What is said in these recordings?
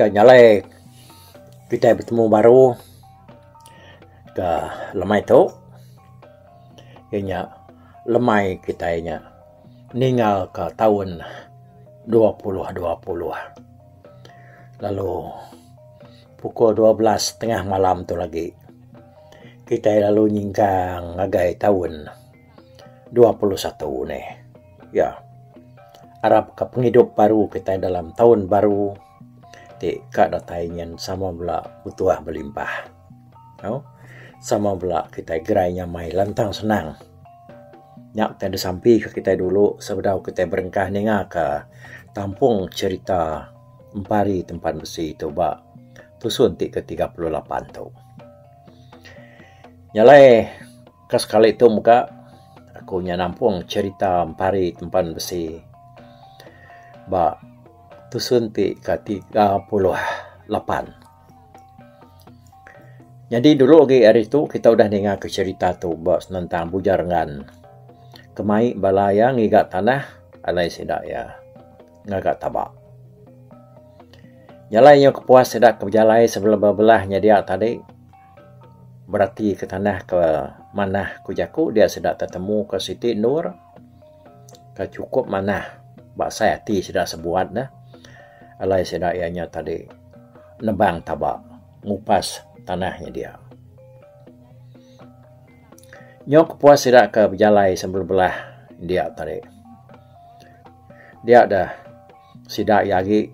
Ga nyalai kitai betemu baru ga lemai tu iya nya lemai kitai nya. Ningalka taun dua puluh dua puluh lalu pukul dua belas tengah malam tu agi kitai lalu nyingkang ngagai taun dua puluh satu ni. Ya arapka pengidup baru kitai dalam taun baru ti ka datai nyen sama bala utuh belimpah. Au sama bala kitai gerai nyamai lantang senang. Nya kitai disampika kitai dulu sebedau kitai berengkah ningaka tampung cherita Empari Tempan Besi tu ba tusun ti ke tiga puluh lapan tu. Nya alai ka sekali tu mega aku nya nampung cherita Empari Tempan Besi ba tusun ti ke tiga puluh lapan. Nyadi dulu agi ari tu kita udah ninga ke cerita tu ba senentang Bujar Ngan ke mai bala iya ngiga tanah alai sida iya ngaga taba. Jalai nyau kepuas sida ke bejalai sebelebuh belah nyedia tadi beratika tanah ke manah ku jaku dia sida tetemu ke siti endur. ka chukup manah ba sai ati sida sebuat ne alai sida iya nya tadi nebang taba ngupas tanah nya dia. Nyok kepuas sida ke bejalai sebelebelah india tadi dia deh Sida iya agi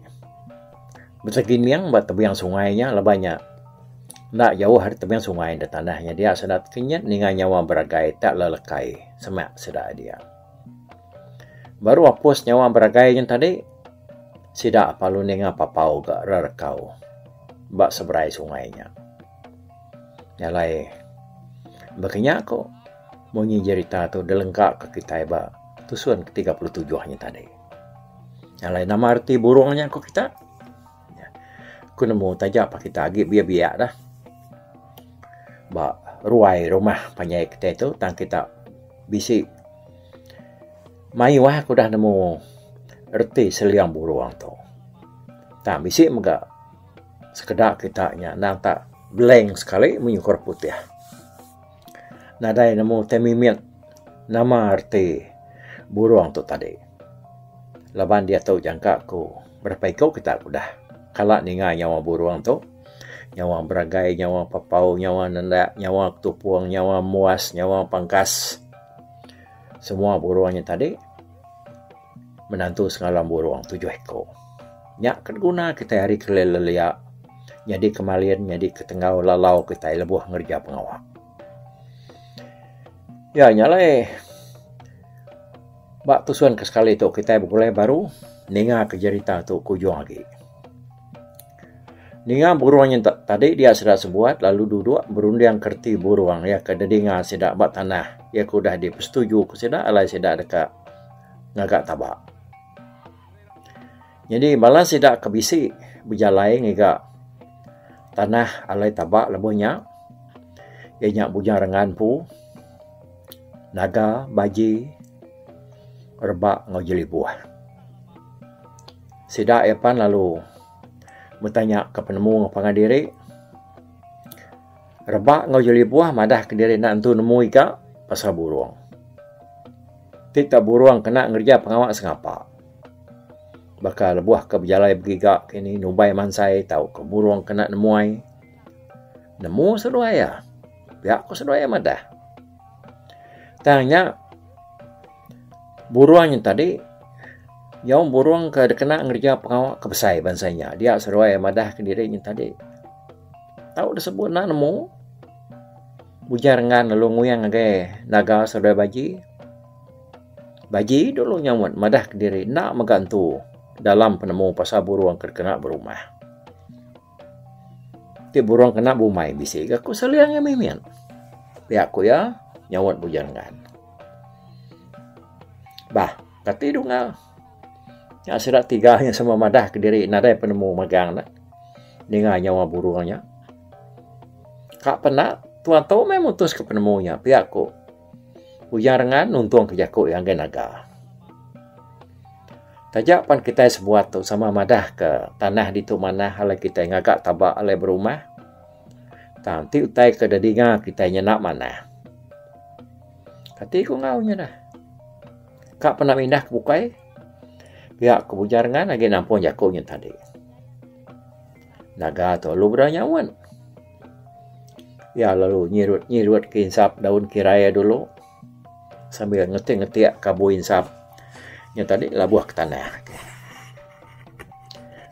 betegining ba tebiang sungai nya lebai nya enda jauh ari tebiang sungai da tanah nya dia sida tekenyit ninga nyawa beragai tak lelekai semak sida dia. Baru apus nyawa beragai nya tadi sida lalu ninga papau ga rerekau ba seberai sungai nya. Nya alai baka nya ku munyi jerita tu dilengka ka kitai ba tusun ke tiga puluh tujuh nya tadi. Alai nama reti burung nya ku kita? Ku nemu taja pa kita agi biak-biak dah ba ruai rumah panjai kita tu tang kita bisi mayuh aku udah nemu reti seliang burung tu. Tang bisi mega sekeda kita nya nang tak blank sekali mung nyukur putih. Nadai nemu utai mimit nama reti burung tu tadi. Laban diatu jangka aku berapa iku kita ke udah kala ninga nyawa burung tu. Nyawa beragai, nyawa papau, nyawa nanda, nyawa ketupung, nyawa muas, nyawa pangkas. Semua burung nya tadi. Menantu sengalam burung tujuh eko. Nya ke diguna kitai ari kelai lelia nyadi ke malin nyadi ke tenggau lalau kitai lebuh ngereja pengawa. Ya nya alai ba tusun ke sekali tu kitai begulai baru ninga ke jerita tu ke ujung agi. Ninga burung nyentuk tadi dia sida sebuat lalu duduk berunding ke reti burung iya ke didinga sida ba tanah iya ke udah dipesetuju ku sida alai sida deka ngaga taba. Nyadi bala sida ke bisi bejalai ngiga tanah alai taba lebuh nya iya nya Bujang Rengan empu, Naga, Baji, Rebak enggau Jelibuh. Sida iya pan lalu betanya ke penemu enggau pangan diri. Rebak enggau Jelibuh madah ke diri enda nentu nemu iga pasal burung. Ti ka burung kena ngereja pengawa sengapa. Baka lebuh ke bejalai begiga ke ini nubai mansai tau ke burung kena nemuai. Nemu seduai iya. Pia ku seduai iya madah. Tang nya burung nya tadi nyau burung ke dikena ngereja pengawa ke besai bansa inya. Dia seduai madah ke diri nya tadi tau disebu enda nemu ujar ngan lalu nguyang ngagai naga seduai baji. Baji dulu nyauan madah ke diri enda mega entu dalam penemu pasal burung ke dikena berumah. Ti burung kena bumai bisi ga ku seling iya mimit. Pia ku iya nyaut Bujang Gan. Bah, kati dunga nya sida tiga nya sama madah kediri nadai penemu magang ne ninga nyawa burung nya. Ka penda, tuan tu meh mutuska penemu nya, pia ku. Bujang rengan nuntungka jaku iya enggai naga. Taja pan kitai semua tu sama madahka tanah ditu manah alai kitai ngaga taba alai berumah tang ti utai ke deh dinga kitai nyena manah. Kati ku enggau inya dah. Ka pernah mindah ke bukai pia ku Bujang Rengan agi nampung jaku nya tadi. Naga tu lalu bra nyaut. Iya lalu nyirut-nyirut ke insap daun kirai iya dulu sambil ngetik-ngetik ke abu insap nya tadi labuh ke tanah.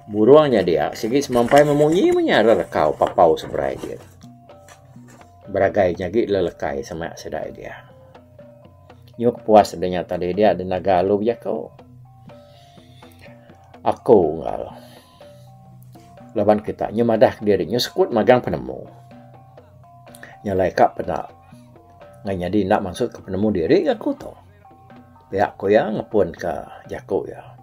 Burung nya dia sigi semampai memunyi menya ra rekau papau seberai dia. Beragai nya gi lelekai semak sedai dia. Nyuk puas dia nya tadi dia ada naga lalu bejaku. Aku enggau. Laban kita nyu madah ke diri nyu sekut magang penemu. Nya alai ka peda ngai nyadi enda mansut ke penemu diri ga ku tu. Pia ku iya ngepun ka jaku iya.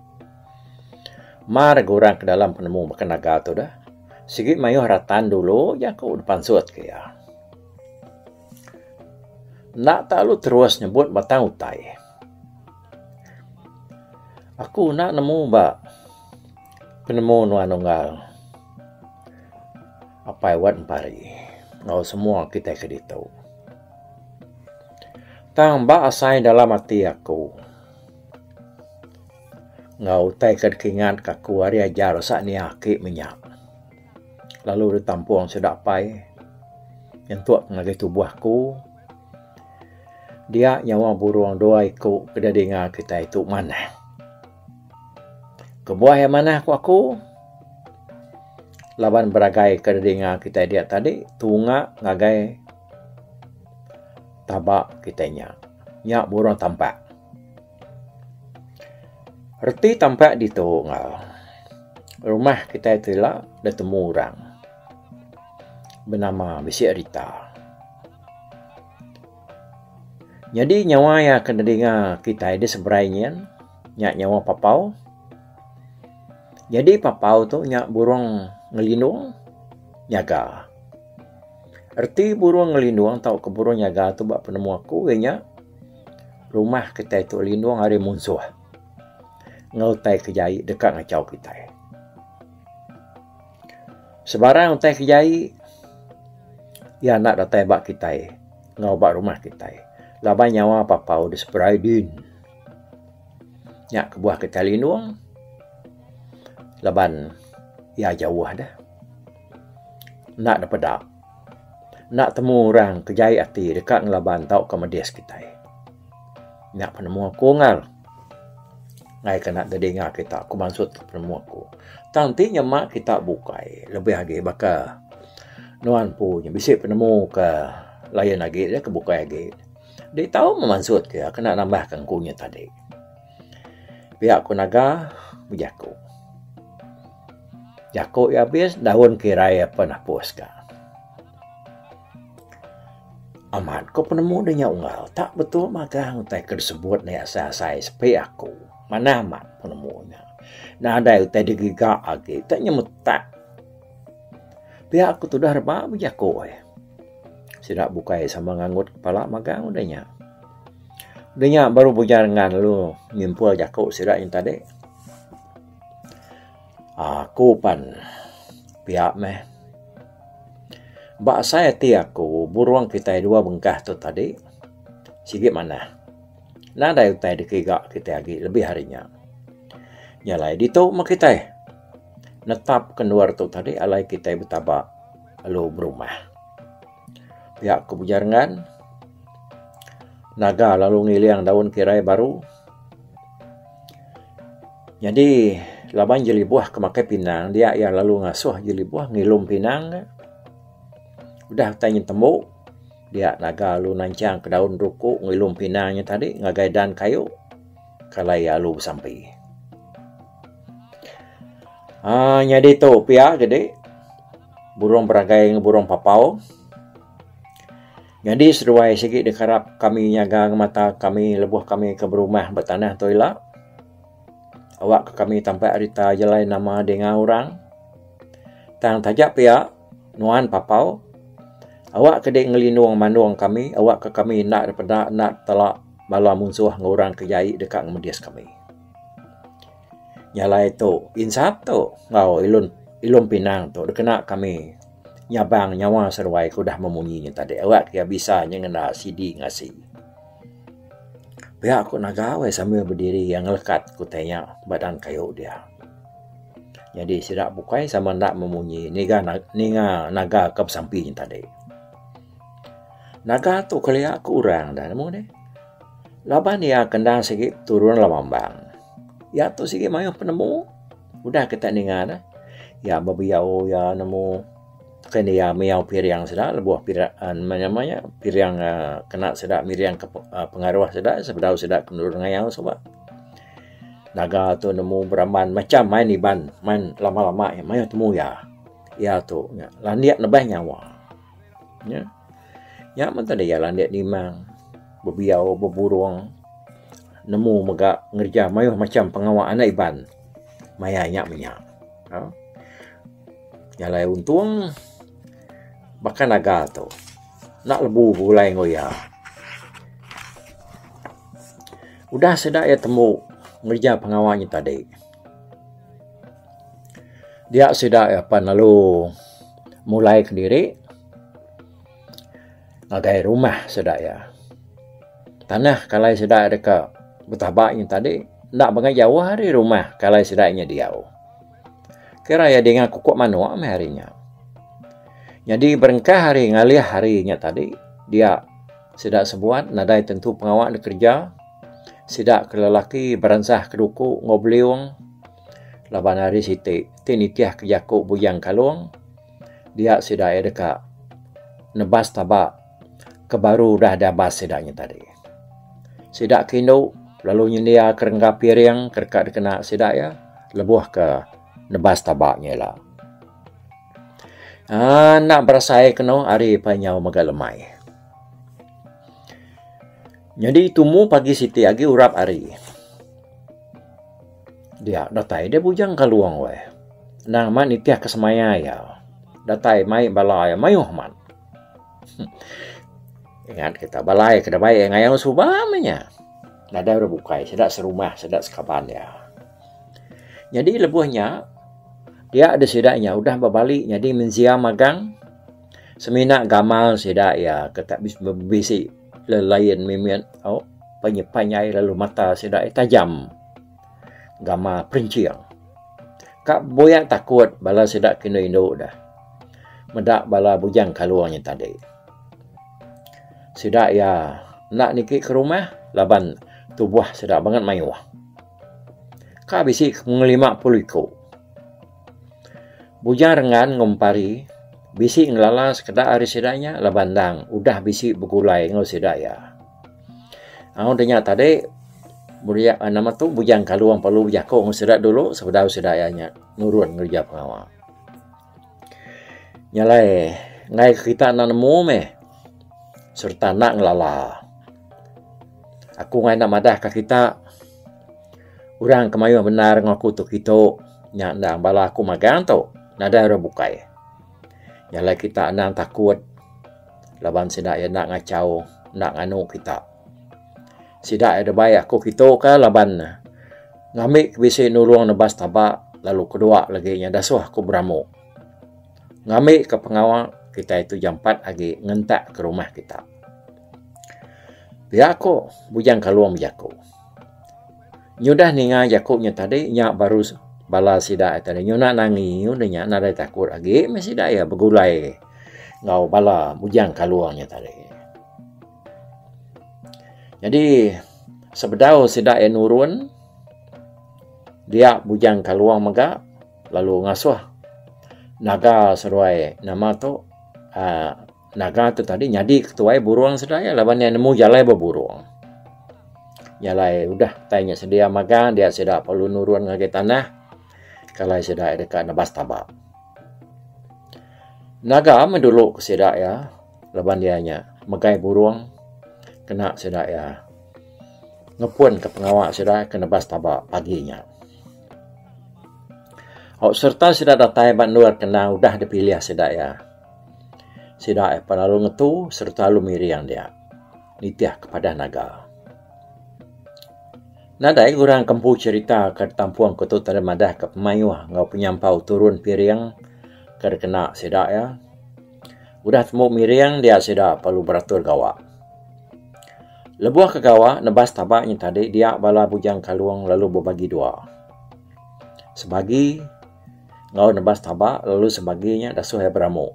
Mar ga orang ke dalam penemu baka naga tu deh. Sigi mayuh ratan dulu jaku da pansut ke iya. Enda telalu terus nyebut batang utai. Aku enda nemu ba. Penemu nuan unggal apai wat empari enggau semua kitai ke ditu. Tang ba asai dalam ati aku enggau utai ke dikingat ka aku ari ajar sania aki menya lalu ditampung sida apai nyentuk ngagai tubuh aku dia nyawa burung dua iku ke didinga kitai tu manah. Kebuah iya manah ku aku laban beragai ke dinga kitai dia tadi tunga ngagai taba kitai nya. Nya burung tampak. Reti tampak ditu enggau rumah kitai ti ila ditemu orang benama bisi rita. Nyadi nyawa iya ke nedinga kitai diseberai nyin nya nyawa papau. Nyadi papau tu nya burung ngelindung nyaga. Reti burung ngelindung tauka burung nyaga tu ba penemu aku iya nya rumah kitai tu lindung ari munsuh enggau utai ke jai deka ngachau kitai. Sebarang utai ke jai iya enda datai ba kitai enggau ba rumah kitai laban nyawa Papau deh seberai din. Nya kebuah kitai linung laban iya jauh deh. Enda deh peda. Enda temu orang ke jai ati deka ngelaban tauka medis kitai. Nya penemu aku enggau ne. Ngaika enda deh dinga kita aku maksud tu penemu aku. Tang ti nyema kita bukai lebih agi baka nuan empu nya bisi penemu ke lain agi deh ke bukai agi. Adi tau meh maksud ke aku enda nambahka ku nya tadi. Pia ku naga bejaku. Jaku iya abis daun ke irai iya pun napus ka. Amat ku penemu deh nya unggal ta betul magang utai ke disebut ne asai asai sepi aku. Manah amat penemu nya. Nadai utai digiga agi ta nyemetak. Pia ku tudah reba bejaku eh. Sida bukai sama nganggut kepala magang deh nya. Udah nya baru bujang rengan lalu nyimpul jaku sida nya tadi aku pan pia meh ba asai ati aku burung kitai dua bengkah tu tadi sigi manah nadai utai dikiga kitai agi lebih ari nya. Nya alai ditu meh kitai netap ke endur tu tadi alai kitai betaba lalu berumah. Pia ku Bujar Ngan. Naga lalu ngiling daun kirai baru. Nyadi laban jelibuh ke makai pinang dia iya lalu ngasuh jelibuh ngilum pinang ne. Udah utai nyin tembu dia naga lalu nanchang ka daun ruku ngilum pinang nya tadi ngagai dan kayu kala iya lalu besampi. Aaa nyadi tu pia gede. burung beragai enggau burung papau. Nyadi seduai sigi da karap kami nyaga ngemata kami lebuh kami ke berumah ba tanah tu ila. Awak ke kami tampak rita jalai nama dinga orang. Tang taja pia nuan papau awak ke dei ngelinung mandung kami awak ke kami enda dipeda enda tela bala munsuh enggau orang ke jai deka ngemedis kami. Nyalai tu insap tu enggau ilun ilun pinang tu dikena kami nyabang nyawa seruai ku udah meh munyi nya tadi ira kiya bisa nya ngena sidi ngasi. Pia ku nagau eh sambil bediri iya ngelekat ku tai nya ba dan kayu dia. Nyadi sida bukai sama enda meh munyi ngiga ninga naga ke besampi nya tadi. Naga tu kelia ku orang dah nemu nih laban iya kendang sigi turun laban bang. Iya tu sigi mayuh penemu udah kita ninga ne. Iya bebiau iya nemu ke ne iya miau piriang sida lebuh pira meh nama nya piriang aaa kena sida miring ke pengaruh sida sebedau sida ke nulung ngayau suba. Naga tu nemu beramban macam main iban main lama lama nya mayuh temu iya. Iya tu nya landik nebeh nyawa. Nya. Nya mun tanda iya landik nimang, bebiau, beburung nemu mega ngereja mayuh macham pengawa anak Iban maya nya menya. Au. Nya alai untung baka naga tu enda lebu begulai enggau iya. Udah sida iya tembu ngereja pengawa nya tadi. Dia sida apan lalu mulai kendiri ngagai rumah sida iya. Tanah kalai sida deka betaba ngin tadi enda pangai jauh ari rumah kalai sida inya diau. Kira iya dinga kuku manok meh ari nya. Nyadi berengkah ari ngalih ari nya tadi dia sida sebuan nadai tentu pengawa dek kereja. Sida ke lelaki beransah ke duku enggau beliung laban hari siti ti nitihka jaku Bujang Kalong dia sida iya deka nebas taba ke baru udah diabas sida nya tadi. Sida ke indu lalu nyendia ke rengga piring ke deka dikena sida iya lebuh ke nebas taba nya ila. Aaa enda berasai kenu ari pa inyau mega lemai. Nyadi tumu pagi siti agi urap ari. Dia datai dia bujang ka luang weh. Nang amat nitih ka semaya iya. Datai mai bala iya mayuh amat. Ingat kita balai ke dabai iya ngayau suba meh nya. Nadai orang bukai sida serumah sida sekaban iya. Nyadi lebuh nya dia disida nya udah bebali nyadi menzia magang. Semina gamal sida iya ke tak bisi lain mimit au panjai lalu mata sida iya tajam gamal perinching. Ka buya takut bala sida ke indu indu deh meda bala bujang kalung nya tadi. Sida iya enda niki ke rumah laban tubuh sida banget mayuh. Ka bisi ke mung lima puluh iku. Bujang Rengan enggau Empari bisi ngelala sekeda ari sida nya laban endang udah bisi begulai enggau sida iya. Au deh nya tadi nama tu Bujang Kalong perlu bejaku enggau sida dulu sebedau sida iya nya nurun ngereja pengawa. Nya alai enggai ke kita enda nemu meh sereta enda ngelala. Aku enggai enda madahka kita. Orang ke mayuh bendar enggau aku tu kitu nya endang bala aku magang tu nadai orang bukai. Nya alai kita endang takut laban sida iya enda ngachau enda nganu kita. Sida iya deba aku kitu ka laban ne ngambi ke bisi nulung nebas taba lalu kedua lagi nya da suh aku beramu. Ngambi ke pengawa kitai tu jampat agi ngentak ke rumah kita. Pia ku Bujang Kalong bejaku. Nyudah ninga jaku nya tadi nya baru bala sida tadi nyuna nangi ngin nya nadai takut agi meh sida iya begulai enggau bala Bujang Kalung nya tadi. Jadi sebedau sida iya nurun dia Bujang Kalung mega lalu ngasuh naga seruai nama tu aaa.. Naga tu tadi nyadi ketuai burung sida iya laban iya nemu jalai ba burung. Jalai udah tai nya sedia magang dia sida perlu nurun ngagai tanah kalai sida iya deka nebas taba. Naga meh dulu ke sida iya laban iya nya megai burung kena sida iya ngepun ka pengawa sida ke nebas taba pagi nya. Au sereta sida datai ba endur kandang udah dipilih sida iya. Sida ai pan lalu ngetu sereta lalu miring dia nitih ke padah naga. Nadai ke orang ke empu cherita ke ditampung ke tu tang deh madah ke pemayuh enggau penyampau turun piring ke dikena sida iya. Udah tembu miring dia sida perlu beratur gawa. Lebuh ke gawa nebas taba nyen tadi dia bala Bujang Kalung lalu bebagi dua. Sebagi. enggau nebas taba lalu sebagi nya dasuh iya beramu.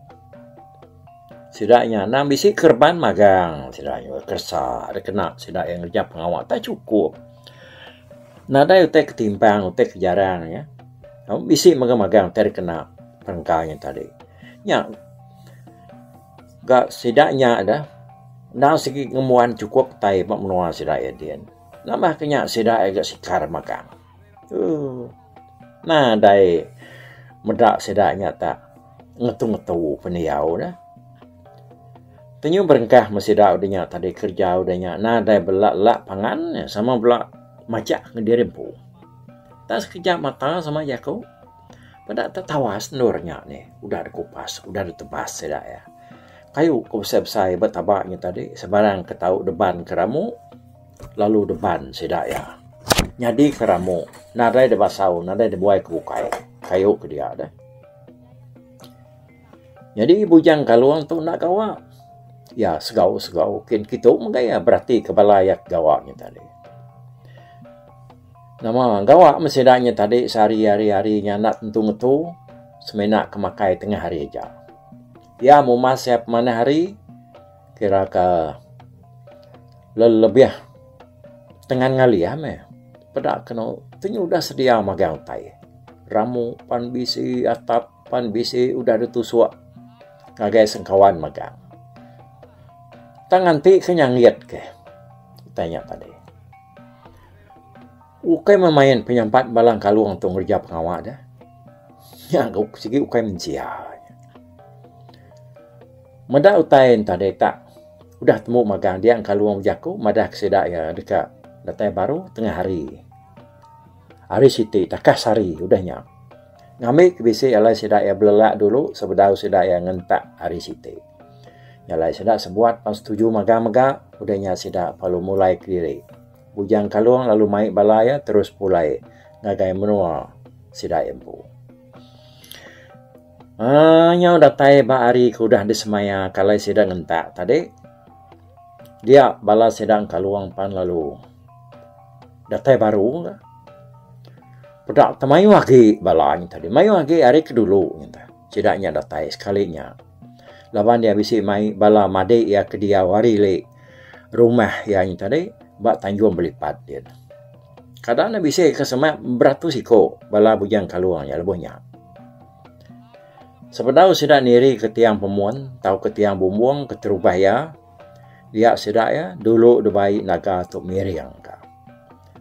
Sida nya anang bisi kereban magang sida nya keresa deh kena sida iya ngereja pengawa tak chukup. Nadai utai ke timpang utai ke jarang nya bisi mega magang ti deh kena perengka nya tadi. Nya ga sida nya deh enda sigi ngembuan chukup utai ba menua sida iya din. Nambah ke nya sida iya ga sikar magang. Nadai meda sida nya tak ngetu-ngetu pendiau ne. Kenyuh berengkah meh sida udah nya tadi kerja udah nya nadai bela la pangan ne sama bela majak ngan diri empu. Tak sekejap mata sama jaku peda te tawas endur nya nih udah de kupas udah de tebas sida iya. Kayu ku besai-besai ba taba nya tadi sebarang ke tau deban ke ramu. lalu deban sida iya nyadi ke ramu nadai da basau nadai da buai ke bukai kayu ke dia deh. Nyadi Bujang Kalong tu enda gawa iya segau segau kin kitu mega iya berati ke bala iya ke gawa nya tadi. Nama gawa meh sida nya tadi sehari hari hari nya enda tentu ngetu semina ke makai tengah hari aja. Iya mumas iya pemanah hari. Kira ka lelebih tengan ngalih iya meh peda kenu ti udah sedia magang utai. Ramu pan bisi atap pan bisi udah deh tusok ngagai sengkawan magang. Tang nganti ke nyangit ke utai nya tadi. Ukai memain penyampat balang kalung tu ngereja pengawa dia. Nya ga sigi ukai mensia. Meda utai entah dek tak udah temu magang dia kalung bejaku madah ke sida iya deka datai baru tengah hari. Hari siti takah sehari udah nya. Ngambi ke bisi alai sida iya belelak dulu sebedau sida iya ngentak hari siti. Nya alai sida sebuat pan setuju magang mega udah nya sida lalu mulai kediri. Bujang Kalong lalu mai bala iya terus pulai ngagai menua sida empu. Aa nyau datai ba hari ke udah disemaya ka alai sida ngentak tadi. Dia bala sida Kalong pan lalu datai baru ka. Peda te mayuh agi bala nya tadi. Mayuh agi ari ke dulu nya te. Sida nya datai sekali nya. Laban iya bisi mai bala madik iya ke diau ari li rumah iya nya tadi ba Tanjung Belipat din. Kada enda bisi ke semak beratus iko bala Bujang Kalong iya lebuh nya. Sebedau sida niri ke tiang pemun tau ke tiang bumbung keterubah iya, dia sida iya dulu dibai naga tu miring ka.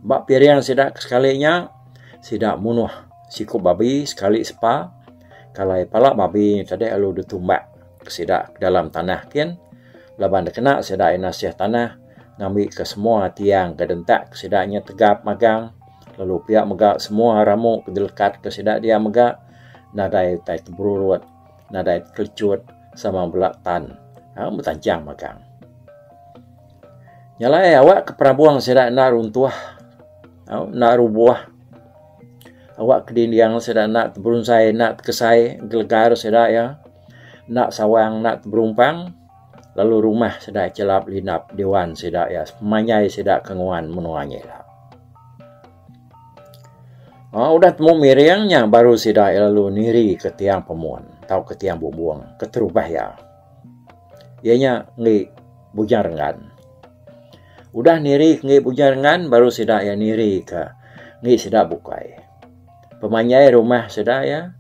Ba piring sida ke sekali nya, sida munuh siku babi sekali sepa. Kalai pala babi nya tadi lalu ditumbak ke sida ke dalam tanah kin laban dikena sida ina seh tanah ngambika semua tiang ke dentak ke sida nya tegap magang lalu pia mega semua ramu ke dilekat ke sida dia mega nadai utai ke berurut, nadai te kelichut sama bela tan betancang magang. Nyalai awak ke perabung sida enda runtuh. Au enda rubuh. Awak ke dinding sida enda teberunzai enda tekesai gelegar sida iya enda sawang enda teberumpang lalu rumah sida chelap lindap diwan sida iya semenyai sida ke nguan menua nyi ila. Au udah temu miring nya baru sida lalu nirika tiang pemun tauka tiang bumbung keterubah iya. Iya nya enggi Bujang Renggan. Udah niri ke enggi Bujang Renggan baru sida iya niri ke enggi sida bukai. Pemanjai rumah sida iya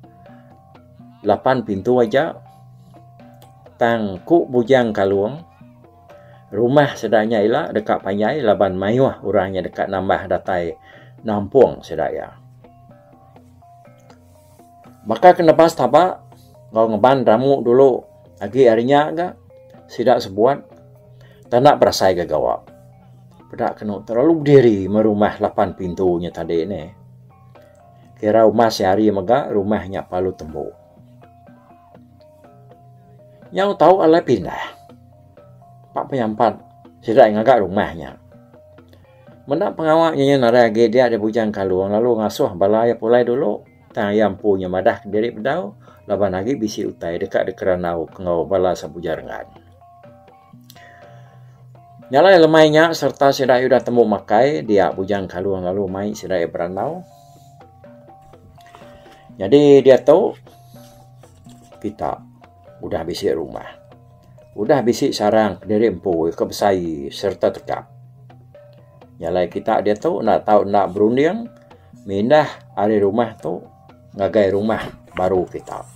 lapan pintu aja tang ku Bujang Kalung rumah sida nya ila deka panjai laban mayuh orang nya deka nambah datai nampung sida iya. Baka ke nebas taba enggau ngeban ramu dulu agi ari nya ga sida sebuat tanda berasai ga gawa. Peda kenu terlalu bediri meh rumah lapan pintu nya tadi nih. Kira rumah sehari mega rumah nya perlu tembu. Nyau tau alai pindah. Pak penyampat sida ngaga rumah nya. Meda pengawa inya nadai agi dia di Bujang Kalung lalu ngasuh bala iya pulai dulu tang iya empu inya madah kediri bedau laban agi bisi utai deka dikerandau enggau bala Sambuja Renggan. Nyalai lemai inya sereta sida iya udah tembu makai dia Bujang Kalung lalu mai sida iya berandau. Nyadi diatu kita. udah bisi rumah, udah bisi sarang kediri empu ke besai sereta tekap. Nya alai kita diatu enda tau enda berunding mindah ari rumah tu ngagai rumah baru kita.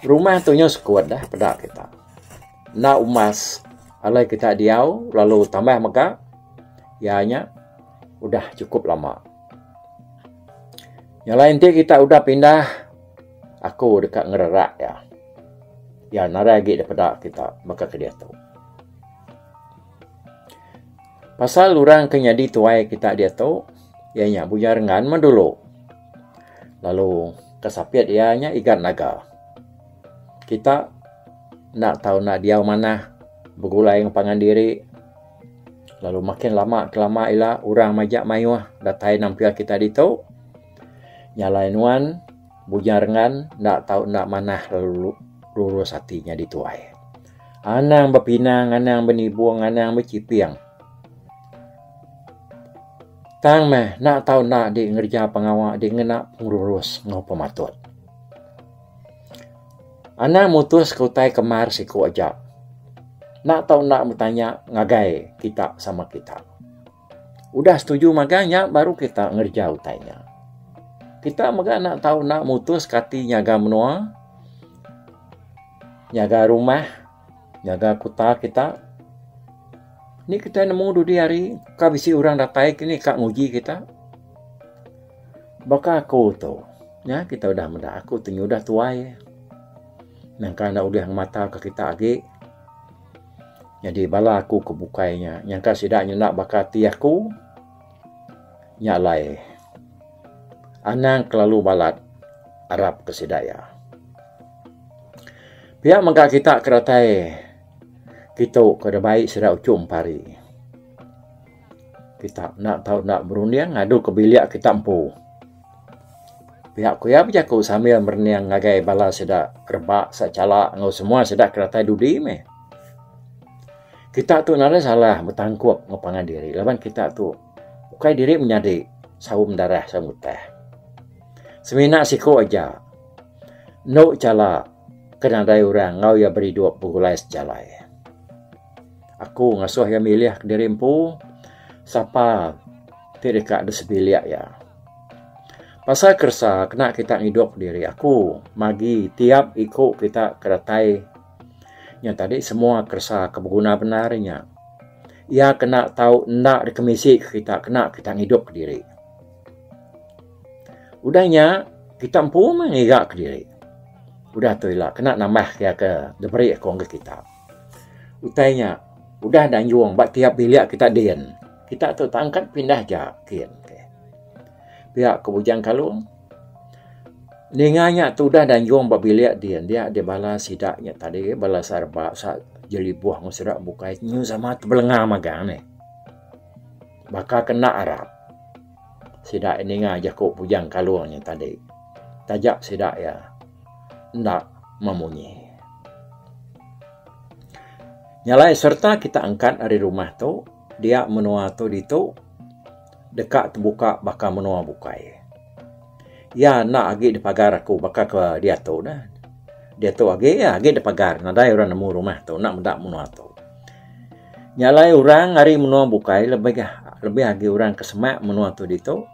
Rumah tu nyau sekut dah peda kita. Enda umas alai kita diau lalu tambah mega iya nya udah cukup lama. Nya alai enti kita udah pindah. Aku deka ngererak iya. Iya nadai agi dipeda kita baka ke diatu. Pasal orang ke nyadi tuai kita diatu, iya nya Buya Renggan meh dulu. Lalu ke sapit iya nya Igat Naga. Kita enda tau enda diau manah begulai ngan pangan diri. Lalu makin lama ke lama ila orang majak mayuh datai nampil kita ditu. Nya alai nuan Bujang Rengan enda tau enda manah lalu lurus ati nyadi tuai. Anang bepinang, anang benibung, anang bechiping. Tang meh enda tau enda di ngereja pengawa di ngena pengelurus enggau pematut. Anang mutuska utai kemar siku aja. Enda tau enda betanya ngagai kita sama kita. Udah setuju magang nya baru kita ngereja utai nya. Kita mega enda tau enda mutus kati nyaga menua, nyaga rumah, nyaga kuta kita. Ni kita nemu dudi hari ka bisi orang datai ke ni ka nguji kita. Baka aku tu, nya kita udah meda aku tu nya udah tuai. Nangka enda ulih ngemata ka kita agi. Nyadi bala aku ke bukai nya nyangka sida nyenda baka ati aku nya alai anang kelalu balat arap ke sida iya. Pia mega kita ke datai kitu ke udah bai sida uchu empa hari. Kita enda tau berunding ngadu ke bilik kita empu. Pia ku iya bejaku sambil merening ngagai bala sida rebak sechala enggau semua sida ke datai dudi meh. Kita tu enda ada salah betangkup enggau pangan diri laban kita tu ukai diri menyadi sawu mendarah sawu mutah. Semina siku aja enu chala ke nadai orang enggau iya beridup begulai sejalai. Aku ngasuh iya milih kediri empu sapa ti deka deh sebilik iya. Pasal keresa kena kita ngidup diri aku magi tiap iku kita ke datai nya tadi semua keresa ke beguna bendar inya. Iya kena tau enda dikemisi ke kita kena kita ngidup kediri. Udah nya kita empu meh ngiga kediri. Udah tu ila kena nambah ke iya ke diberi aku ngagai kita. Utai nya udah danjung ba tiap bilik kita din. Kita tu tak angkat pindah aja kin. Pia ke Bujang Kalung ninga nya tu udah danjung ba bilik din dia di bala sida nya tadi bala sarba jelibuh ngan sida bukai nyau sama tebelengau magang nih. Baka ke enda arap. Sida iya ninga jaku Bujang Kalung nya tadi. Taja sida iya enda memunyi. Nyalai sereta kita angkat ari rumah tu, dia menua tu ditu deka tebuka baka menua bukai. Iya enda agi dipagar aku baka ke diatu ne. Diatu agi iya agi dipagar nadai orang nemu rumah tu enda meda menua tu. Nya alai orang ari menua bukai lebih lebih agi orang ke semak menua tu ditu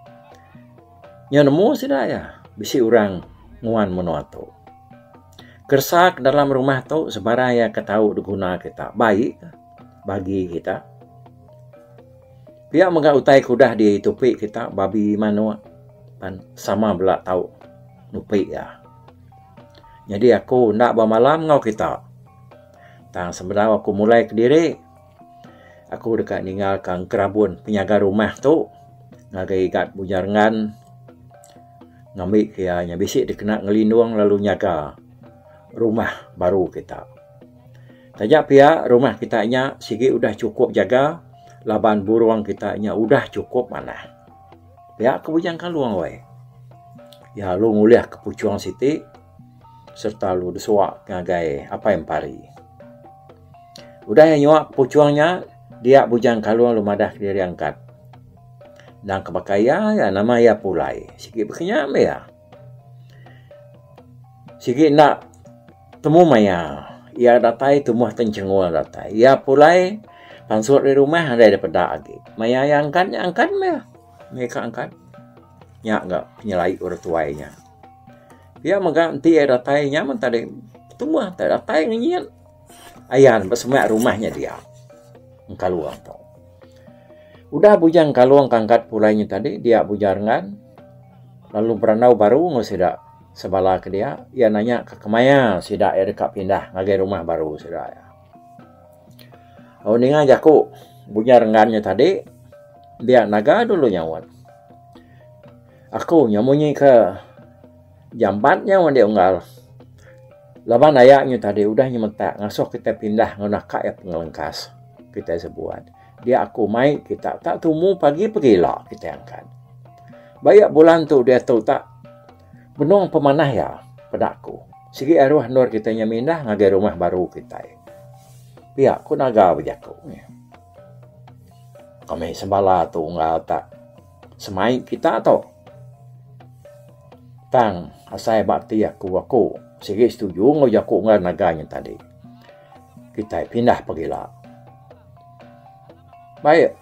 iya nemu sida iya bisi orang nguan menua tu. Keresa ke dalam rumah tu sebarang iya ke tau diguna kita baik bagi kita. Pia mega utai ke udah ditupi kita babi manok pan sama bela tau nupi iya. Nyadi aku enda ba malam enggau kita tang sebedau aku mulai kediri aku deka ninga ka gerabun penyaga rumah tu ngagai igat Bunjang Rengan ngambi ke iya nya bisi dikena ngelindung lalu nyaga rumah baru kita. Taja pia, rumah kita nya sigi udah chukup jaga laban burung kita nya udah chukup manah. Pia ke Bujang Kalung weh. Ya lu ngulih ke puchung siti serta lu desua ngagai Apai Empari. Udah iya nyua ke puchung nya, dia Bujang Kalung lu madah kediri angkat. Endang ke baka iya, nama iya Pulai. Sigi baka nya meh iya. Sigi enda temu maya iya datai tumah ti chengul datai. Iya pulai pansut ari rumah nadai da peda agi. Maya iya angkat nya angkat meh. Meh ka angkat. Nya ga penyelaik orang tuai nya. Pia mega enti iya datai nya mun tadi tumah tadi datai ngenyit. Ayan ba semak rumah nya dia. Engkalung tu. Udah bujang engkalung kangkat pulai nya tadi dia bujar ngan lalu berandau baru enggau sida sebala ke dia iya nanya ka kemaya sida iya deka pindah ngagai rumah baru sida iya. Au ninga jaku bujar ngan nya tadi dia naga dulu nyaut. Aku nya munyi ke Jampat nya meh enda unggal. Laban aya nya tadi udah nyemetak ngasuh kitai pindah enggau naka iya pengelengkas kitai sebuat. Dia aku mai kita tak tumu pagi pegila kitai angkat. Ba iya bulan tu diatu tak benung pemanah iya peda aku. Sigi aruh endur kitai nya mindah ngagai rumah baru kitai. Pia ku naga bejaku nya. Kami sembala tu unggal tak. semai kita tu. Tang asai ba ati aku aku sigi setuju enggau jaku ngaran naga nya tadi. Kitai pindah pagila. Baik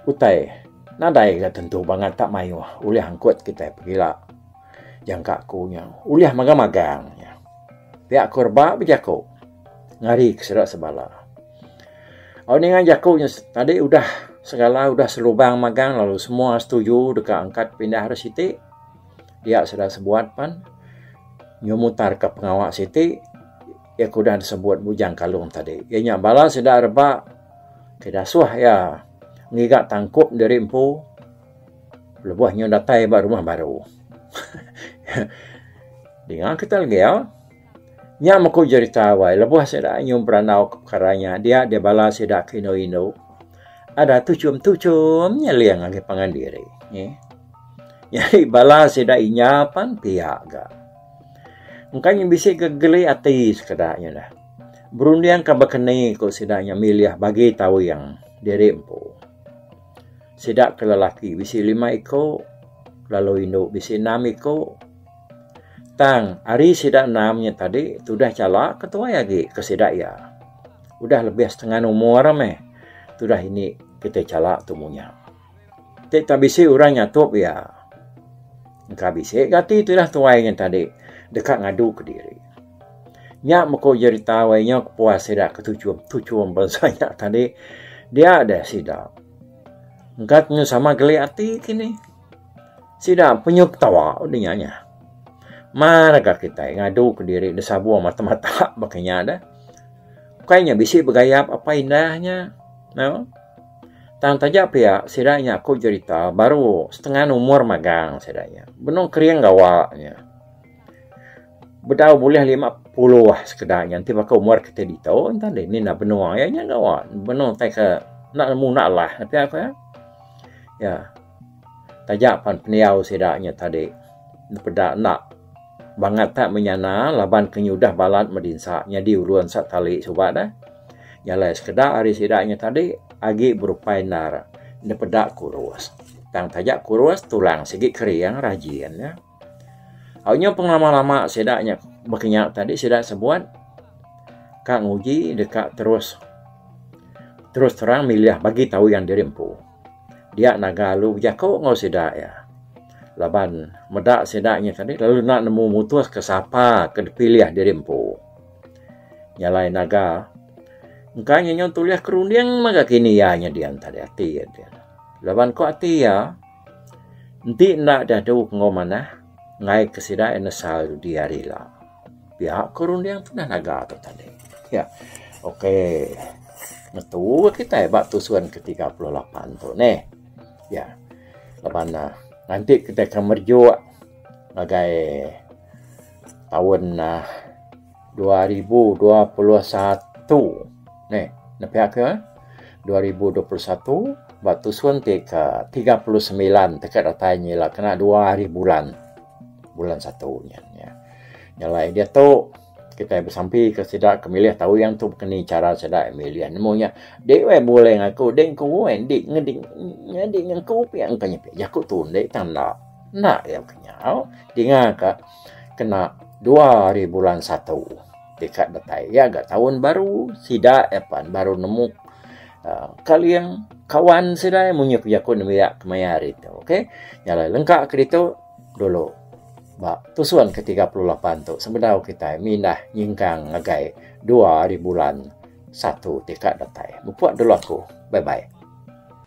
utai nadai ga tentu bangat ta mayuh ulih angkut kitai pagila jangka aku nya ulih magang magang nya. Pia aku rebak bejaku ngari ke sida sebala. Au ninga jaku nya tadi udah segala udah selubang magang lalu semua setuju deka angkat pindah deh siti pia sida sebuat pan nyu mutar ka pengawa siti iya ke udah disebut Bujang Kalong tadi. Iya nya bala sida rebak ke dasuh iya ngiga tangkup diri empu lebuh nyu datai ba rumah baru. Dinga kita legi au. Nya meku jerita awai lebuh sida nyum berandau ke pekara nya dia deh bala sida ke indu indu ada tuchum tuchum nyeling agi pangan diri nyi. Nyadi bala sida inya pan pia ga. Engka nyi bisi ga geli ati sekeda nyi neh. Berunding ka bekeni ku sida nya milih bagi tawing diri empu. Sida ke lelaki bisi lima iku lalu indu bisi enam iku. Tang, ari sida enam nya tadi tudah chala ke tuai agi ke sida iya. Udah lebih setengan umur meh tudah indi kitai chala tu munya. Ti tak bisi orang nyatup iya. Engka bisi gati tudah tuai nya tadi deka ngadu ke diri. Nya meku jerita wai nya ke puas sida ke tuchum tuchum bansa nya tadi dia deh sida. Engka tentu sama geli ati kini. Sida penyu ketawa udah nya nya. Mar ga kitai ngadu ke diri enda sabuh mata mata baka nya dah. Ukai nya bisi begayap apai indah nya. Nau. Tang taja pia sida nya aku jerita baru setengah umur magang sida nya. Benung kering gawa nya. Bedau bulih lima puluh sekeda nya enti baka umur kitai ditu enta deh nih enda benung aja nya gawa. Benung tai ke enda muna lah pia aku eh. Ya. Taja pan pendiau sida nya tadi peda enda bangat tak menyana laban ke nyudah balat medinsa nyadi ulun sak kali suba deh. Jalai sekeda ari sida nya tadi agi berupai endar dipeda kurus. Tang taja kurus tulang sigi kering rajin nya. Au nyau pengelama lama sida nya bekenya tadi sida sebut ka nguji deka terus terus terang milih bagi tauyan diri empu. Dia naga lalu bejaku enggau sida iya laban meda sida nya tadi lalu enda nemu mutuska sapa ke dipilih diri empu. Nya alai naga engka inya nyau tulih ke runding mega kini iya nyadin tadi ati iya enti anu. Laban ku ati iya enti enda diadu enggau manah ngaika sida iya nesal dudi ari ila. Pia ku runding tundah naga tu tadi. Ya. Okey. Ngetu ga kitai ba tusun ke tiga puluh lapan tu neh. Ya. Laban ne nanti kitai akan merejuk ngagai taun uhh dua ribu dua puluh satu neh. Nya pia ke dua ribu dua puluh satu ba tusun ti ke tiga puluh semilan teke datai nya ila kena dua ari bulan. Bulan satu nya nya. Nya alai diatu kitai besampi ke sida ke milih tau yang tu ke ni chara sida milih nemu nya. Dek weh bulai ngan aku dek engku weh dek ngedi nyadi ngan aku pia engka nya pia jaku tu enda tang enda. Enda iya ke nyau dinga ka kena dua ari bulan satu. Dekat datai iya ga taun baru sida iya pan baru nemu aaa kaling kawan sida iya munyi ku jaku nemu iya kemaya hari tu okey. Nya alai lengka ke ditu dulu ba tusun ke tiga puluh lapan tu sebedau kitai mindah nyingkang ngagai dua ari bulan satu ti ka datai. Mupok dulu aku. Bye bye.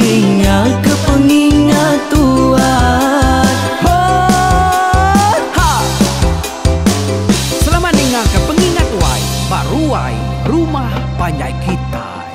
Dingaka pengingat tuan. Hot ha. Selamat dingaka pengingat wai ba ruai rumah panjai kitai.